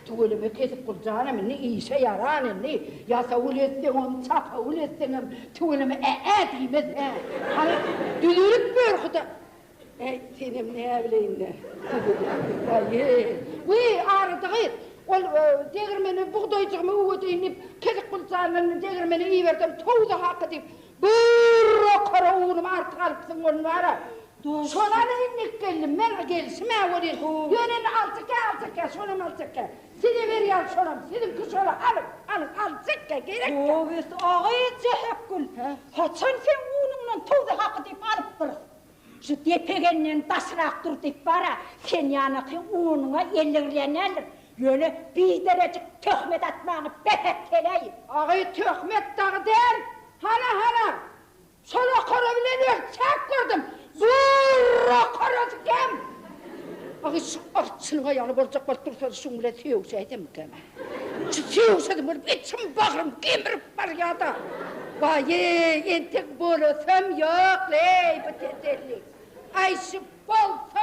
Tüweleme kesip gurjanam indi işe ýaran indi ýasawul etseň ony çapawul etseňem tüweleme ä-ä diýmez hä hany düzülip görhuda äý senem näbileýinle äý wi arada gyz ol degirmene bugdaýjygymy üwedeýin diýip kesik gurjandan degirmene ibersem towza haky diýip bir okara unumy artyk alypsyň ony wara Şonam endik geldim men o gelşim-ä welin, ýöne indi altekä, altekä, şonam altekä. Size berýän şonam, siziňki şola, alyň, alyň, altekä, gerekkä. Gowusy, aga eje Hepgül, haçan seň unuňdan towzy haky diýip alypdyrys? Şu depegenden daşrak dur diýip bar-a, sen ýanaky unuňa elleňlänendir, ýöne biderejik töhmet atmagyňy bes et, heleý! Aga eje, töhmet dagy däl, hana, hana! Şol okara bilen öz çak gördüm. Durr okarasy kem. Agy şu arçynyň aýaly boljak bolup dursa-da şuň bilen söýüşäýsemmikäm-ä. Şu söýüşesim gelip içim bagrym gemirip barýa-da. Waý-eý, entek bolasam ýok-leý bu tetellik. Aýşy bolsa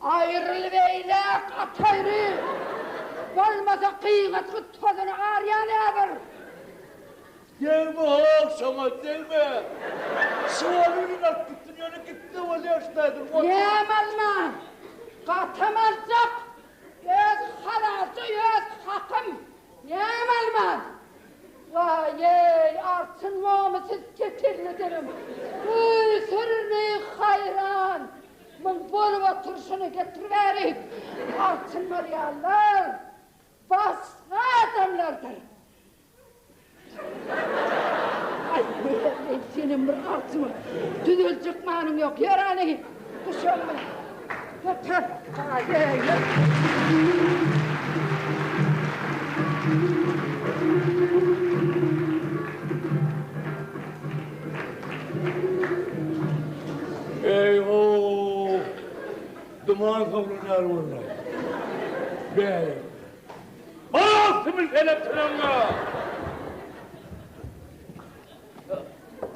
Aýryl beýläk at aýry. Bolmasa gyýgat gutgasyny arýa näbir. Degme hol şoňa degme. Şu oly iliň alyp gitsin ýöne gitse bolýa şu taýdan ot. Näme alman? Gatam aljak. Öz halalça öz hakym. Näme alman? Waýeý artyn momy siz kepilli dilim. Öýsürli haýran. Muň bolup oturşyny getiriberi. Altyn bolýanlar basga adamlardyr. Aý, Mehri, senem bir altyn bol. Düzeljek manyň ýok. Ýör hany, düş öňüme. Göter. Aý, ýör. Eý-ho-w! Duman sowlanýar görle. Bäh! Aw, siňňil pelek çyragyňa!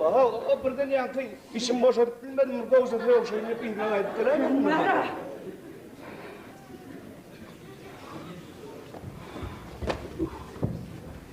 Aw, o birden ýaňky işimi boşadyp bilmedim, bir gowşa sögüşeýin diýip yzyna gaýdyp geläýmedim birden.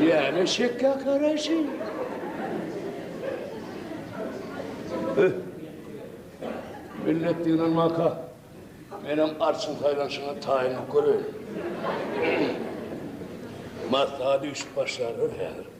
Ýäne şekge garaşy. Öh. Millet diýlen maka. Menem arçyň saýlanşyna taýynlyk göreýin. Maslahat üýşüp başlarlar häzir.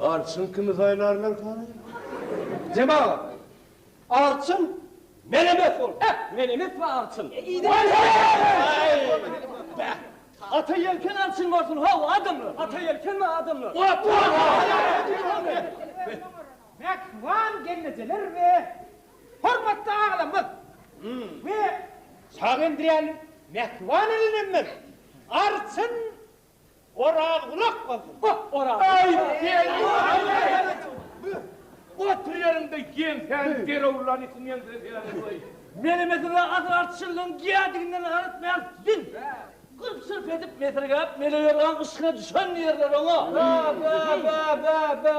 Arçyn kimi saýlarlarka? Jemagat! Arçyn menemes bol. Beh, menemes we arçyn. Beh, Ata Ýelken arçyn bolsun. Hawa, adamlar. Ata Ýelken we adamlar. Mähriban gelnejeler we hormatly agalarymyz we Şagendiräniň mähriban elinenler! Arçyn! Oraz gulak bolsun. Goh oraz. Aý sen Otur ýeriňde ýeň säni gerowlan itiň ýeňsine seredip goý. Melemesiňe asyl artçyllygyň gädiginden garatmaýar siziň. Gyrp şyrp edip mesergäp mele ýörgäň yşkyna düşen ýerler oňa. Bä bä bä bä bä.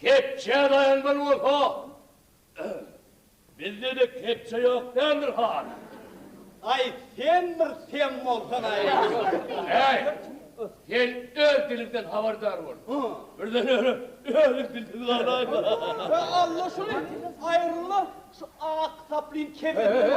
Kepje daýan bir bolsa, bizde-de kepje ýok däldir hany? Aý, sen bir sem bolsan-aý! Häý, sen öz diliňden habardar bol. Birden ýöne özüň dilsiz galaýma. Alla şuny aýrylar Şu ak saplyn kemini.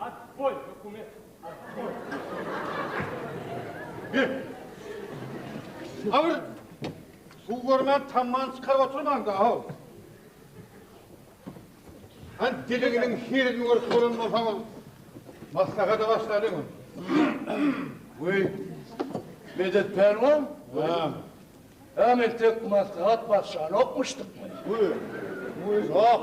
Atboý hökümet. Atboý. Bir. Agyr. Suw görmän tamman çykaryp oturmaň da, aw. Han diliginiň hirini görüp bolan bolsaňyz, maslahata başlalyň. Weý. Medet pälwan. Ha. Hem entek maslahat başlanokmuşdyk. Weý. Weý. Ýok.